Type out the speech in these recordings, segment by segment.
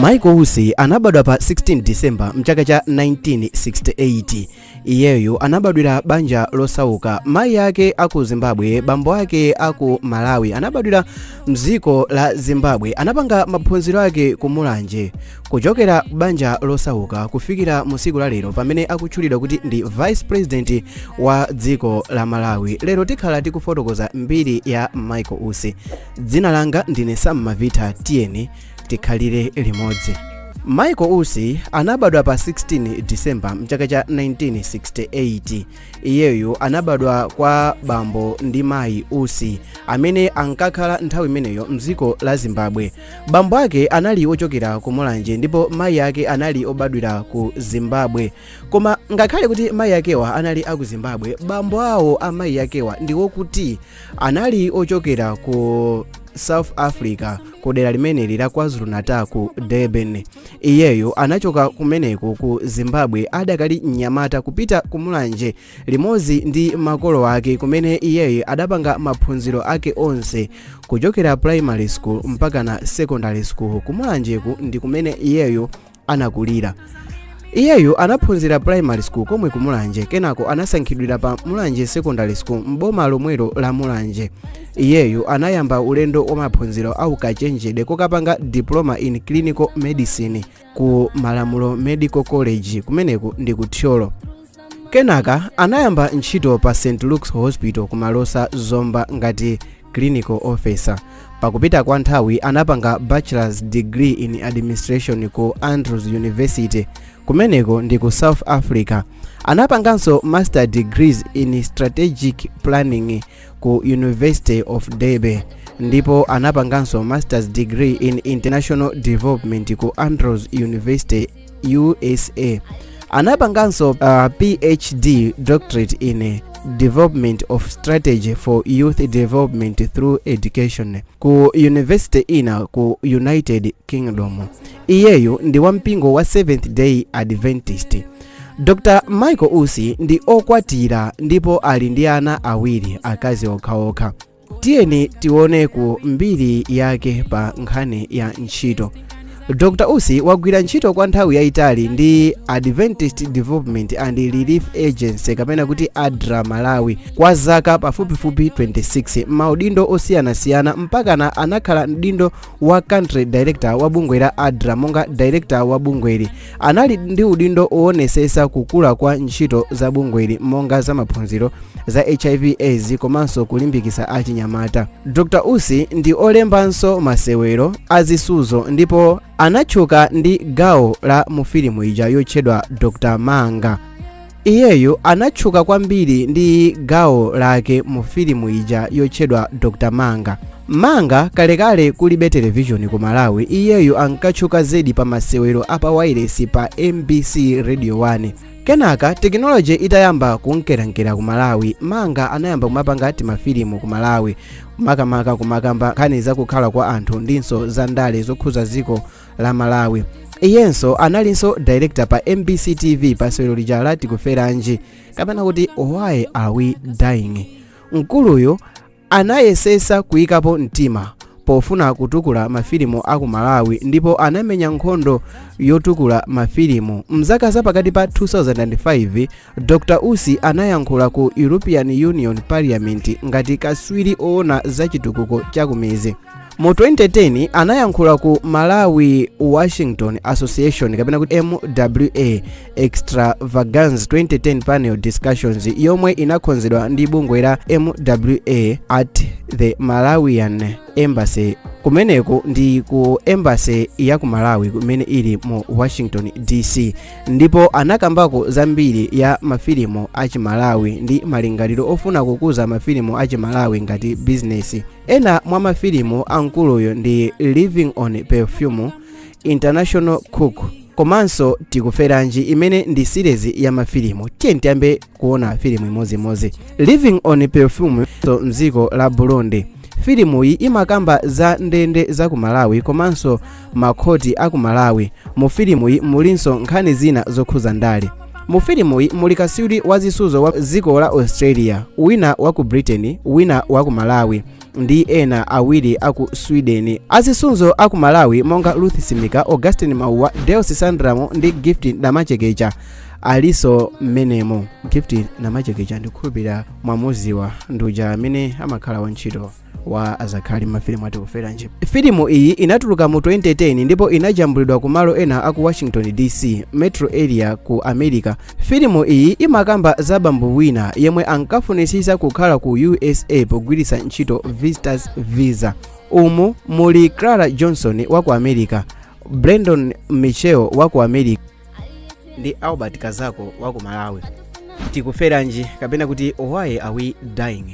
michael usi anabadwa pa 16 disemba mchaka cha 1968 iyeyo anabadwira banja losauka mayi ake aku zimbabwe bambo ake aku malawi anabadwira mdziko la zimbabwe anapanga maphunziro ake ku mulanje kuchokera banja losauka kufikira mu tsiku la lero pamene akutchulidwa kuti ndi vice president wa dziko la malawi lero tikhala tikufotokoza mbiri ya michael usi dzina langa ndine sam mavita tiyeni tikhalire limodzi michael usi anabadwa pa 16 disemba mchaka cha 1968 iyeyo anabadwa kwa bambo ndi mayi usi amene ankakhala nthawi imeneyo mdziko la zimbabwe bambo ake anali ochokera ku mulanje ndipo mayi ake anali obadwira ku zimbabwe koma ngakhale kuti mayi akewa anali aku zimbabwe bambo awo a mayi akewa ndi wokuti anali ochokera ku south africa ku dera limeneli la kwazulu-natal ku durban iyeyo anachoka kumeneko ku zimbabwe adakali mnyamata kupita ku mulanje limodzi ndi makolo ake kumene iyeyo adapanga maphunziro ake onse kuchokera primary school mpakana secondary school kumulanjeku ndi kumene iyeyo anakulira iyeyu anaphunzira primary school komwe ku mulanje kenako anasankhidwira pa mulanje secondary school m'boma lomwelo la mulanje iyeyu anayamba ulendo wa maphunziro a ukachenjede kokapanga diploma in clinical medicine ku malamulo medical college kumeneku ndi ku thyolo kenaka anayamba ntchito pa st luke's hospital ku malosa zomba ngati clinical officer pakupita kwa nthawi anapanga bachelor's degree in administration ku andrews university kumeneko ndi ku south africa anapanganso master degrees in strategic planning ku university of derby ndipo anapanganso master's degree in international development ku andrews university usa anapanganso uh, phd doctorate in development of strategy for youth development through education ku university ina ku united kingdom iyeyo ndi wampingo wa seventh day adventist dr michael usi ndi okwatira ndipo ali ndi ana awiri akazi okhaokha tiyeni tione ku mbiri yake pa nkhani ya ntchito dr usi wagwira ntchito kwa nthawi yayitali ndi adventist development and relief agency kapena kuti adra malawi kwa zaka pafupifupi 26 m'maudindo osiyanasiyana mpakana anakhala m'udindo wa country director wa bungwe la adra monga director wa bungweli anali ndi udindo owonetsetsa kukula kwa ntchito za bungweli monga za maphunziro za hiv aids komanso kulimbikitsa achinyamata dr usi ndi olembanso masewero azisuzo ndipo anatchuka ndi gawo la mu filimu ija yotchedwa dr manga Iyeyu anatchuka kwambiri ndi gawo lake mu filimu ija yotchedwa Dr. Manga. Manga kalekale kulibe televishoni ku Malawi, iyeyu ankatchuka zedi pa masewero a pa wailesi pa MBC Radio 1. Kenaka tekinoloji itayamba kunkerankera ku Malawi, Manga anayamba kumapanga timafilimu ku Malawi, makamaka kumakamba nkhani za kukhala kwa anthu ndinso za ndale zokhuza dziko la malawi iyenso analinso director pa mbc tv pa sewero lija la tikuferanji kapena kuti why are we dying mkuluyu anayesetsa kuyikapo mtima pofuna kutukula mafilimu a ku malawi ndipo anamenya nkhondo yotukula mafilimu mzaka za pakati pa 2005 dr usi anayankhula ku european union parliament ngati katswiri oona za chitukuko chakumidzi mu 2010 anayankhula ku malawi washington association kapena kuti mwa extravagance 2010 panel discussions yomwe inakonzedwa ndi bungwe la mwa at the malawian embassy kumeneko ndi ku embassy ya ku malawi kumene ili mu washington dc ndipo anakambako zambiri ya mafilimu achimalawi ndi malingaliro ofuna kukuza mafilimu achimalawi ngati bizinesi ena mwa mafilimu a mkuluyo ndi living on perfume international cook komanso tikuferanji imene ndi series ya mafilimu tiyeni tiyambe kuona filimu imodzimodzi living on perfume so mdziko la burundi filimuyi imakamba za ndende za ku malawi komanso makhoti a ku malawi mu filimuyi mulinso nkhani zina zokhuza ndale mu filimuyi muli katswiri wa zisudzo wa dziko la australia wina wa ku britain wina wa ku malawi ndi ena awiri a ku sweden azisudzo a ku malawi monga ruth simika augustin mauwa deus sandramo ndi gift namachekecha alinso mmenemo gift namachekecha ndikhulupirira mwamudziwa ndi uja amene amakhala wantchito wa azakhali mafilimu a tikuferanji filimu iyi inatuluka mu 2010 ndipo inajambulidwa ku malo ena aku washington dc metro area ku america filimu iyi imakamba za bambo wina yemwe ankafunitsitsa kukhala ku usa pogwiritsa ntchito visitors visa umu muli clara johnson wa ku america brandon michel wa ku america ndi albert kazako wa ku malawi tikuferanji kapena kuti why are we dying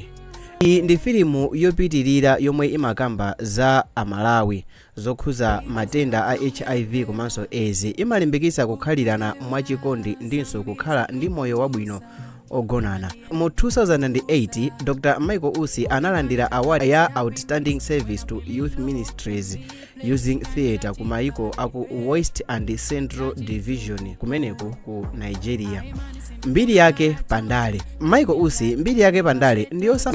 iyi ndi filimu yopitirira yomwe imakamba za amalawi zokhuza matenda a hiv komanso aids imalimbikitsa kukhalirana mwachikondi ndinso kukhala ndi moyo wabwino ogonana mu 2008 dr michael usi analandira award ya outstanding service to youth ministries using theatre ku maiko aku west and central division kumeneko ku nigeria mbiri yake pandale michael usi mbiri yake pandale ndiyosa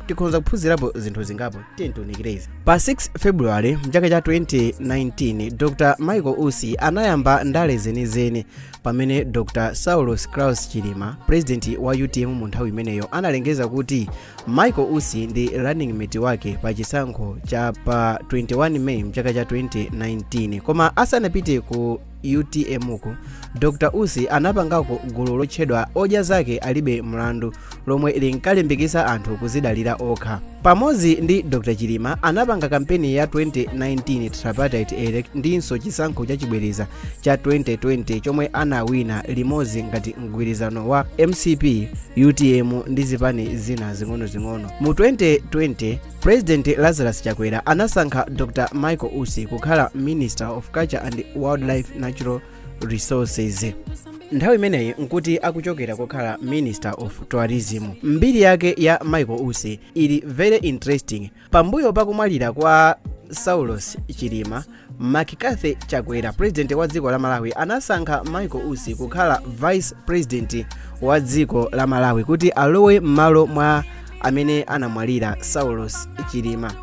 tikhonza kuphunzirapo zinthu zingapo tatiyeni tiunikire izi pa 6 february mchaka cha 2019 dr michael usi anayamba ndale zenizeni pamene dr saulos claus chilima purezidenti wa utm mu nthawi imeneyo analengeza kuti Michael Usi ndi running mate wake pa chisankho cha pa 21 May mchaka cha 2019 koma asanapite ku utmku dr usi anapangako gulu lotchedwa odya zake alibe mlandu lomwe linkalimbikitsa anthu kuzidalira okha pamodzi ndi dr chilima anapanga kampeni ya 2019 tripartite elect ndinso chisankho chachibwereza cha 2020 chomwe anawina limodzi ngati mgwirizano wa mcp utm ndi zipani zina zing'onozing'ono mu 2020 president lazarus chakwera anasankha dr michael usi kukhala minister of culture and wildlife natural resources nthawi imeneyi nkuti akuchokera kukhala minister of tourism mbiri yake ya michael usi ili very interesting pambuyo pa kumwalira kwa saulos chilima mccarthy chakwera president wa dziko la malawi anasankha michael usi kukhala vice president wa dziko la malawi kuti alowe m'malo mwa amene anamwalira saulos chilima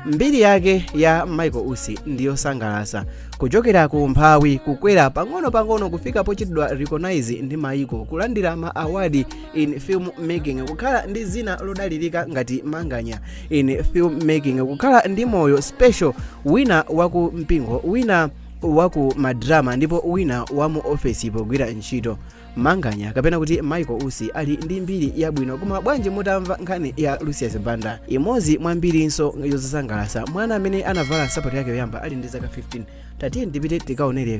mbiri yake ya michael usi ndiyosangalasa kuchokera ku umphawi kukwera pang'ono-pang'ono kufika pochitidwa recognize ndi maiko kulandira ma awadi in film making kukhala ndi zina lodalirika ngati manganya in film making kukhala ndi moyo special wina waku mpingo wina waku madrama ndipo wina wa mu ofesi pogwira ntchito manganya kapena kuti michael usi ali ndi mbiri yabwino koma bwanji mutamva nkhani ya lucius banda imodzi mwa mbirinso yosangalasa mwana amene anavala nsapato yake yoyamba ali ndi zaka 15 tatiyeni tipite tikaonere